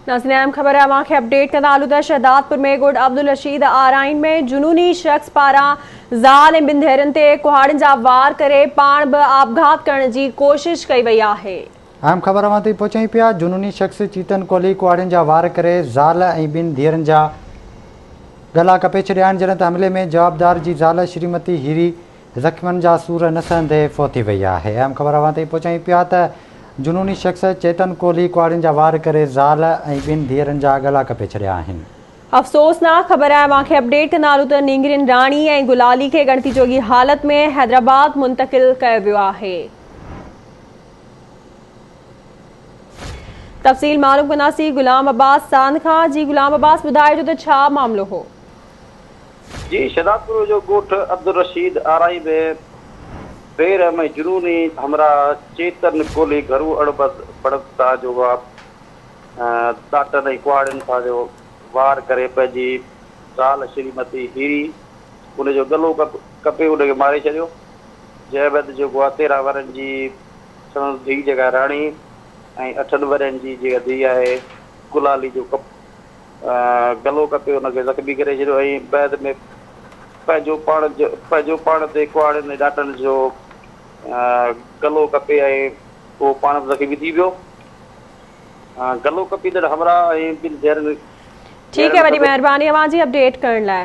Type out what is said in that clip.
ناظرين اهم خبر اوهان کي اپڊيٽ ڪندا هلون ته شهدادپور ۾ ڳوٺ عبدالرشيد آرائين ۾ جنوني شخص پاران زال ۽ ٻن ڌيئرن تي ڪهاڙين جا وار ڪري پاڻ به آپگهات ڪرڻ جي ڪوشش ڪئي وئي آهي. اهم خبر اوهان تائين پهچائين پيا جنوني شخص چيتن ڪولهي ڪهاڙين جا وار ڪري زال ۽ ٻن ڌيئرن جا ڳلا ڪپي ڇڏيا آهن جڏهن ته حملي ۾ جوابدار جي زال شريمتي هيري زخمين جا سور نه سهندي فوتي وئي آهي. اهم خبر اوهان تائين پهچايون پيا ته جنوني شخص چيتن ڪولهي ڪهاڙين جا وار ڪري زال ۽ ٻن ڌيئرن جا ڳلا ڪپي ڇڏيا آهن. افسوسناڪ خبر آهي اوهان کي اپڊيٽ ڪنارون ته نينگرين راڻي ۽ گلالي کي ڳڻتي جوڳي حالت ۾ حيدرآباد منتقل ڪيو ويو آهي. تفصيل معلوم ڪنداسين غلام عباس ساند کان جي غلام عباس ٻڌائجو ته ڇا معاملو هو. جي شھدادپور جو ڳوٺ عبدالرشيد آرائي به بي رحمي جنوني ھمراھ چيتن ڪولھي گھرو اڻبرد بڙد سان جو وھاء ڏاٽن ۽ ڪهاڙين سان جو وار ڪري پنھنجي زال شريمتي ھيري ان جو ڳلو ڪپي ان کي ماري ڇڏيو جنھن بعد جو وھاء تيرنھن ورھن جي سندس ڌيء جيڪا راڻي ۽ اٺن ورھين جي جيڪا ڌيء آھي گلالي جو ڪپ گلو ڪپي ان کي زخمي ڪري ڇڏيو ۽ بعد ۾ پنهنجو پاڻ پنهنجو پاڻ تي ڪهاڙين ۽ ڏانٽن جو گلو ڪپي ۽ اهو پاڻ به زخمي ٿي پيو. گلو ڪپيندڙ همراهه ۽ ٻن ڌيئرن ٺيڪ آهي وڏي مهرباني اوهان جي اپڊيٽ ڪرڻ لاء.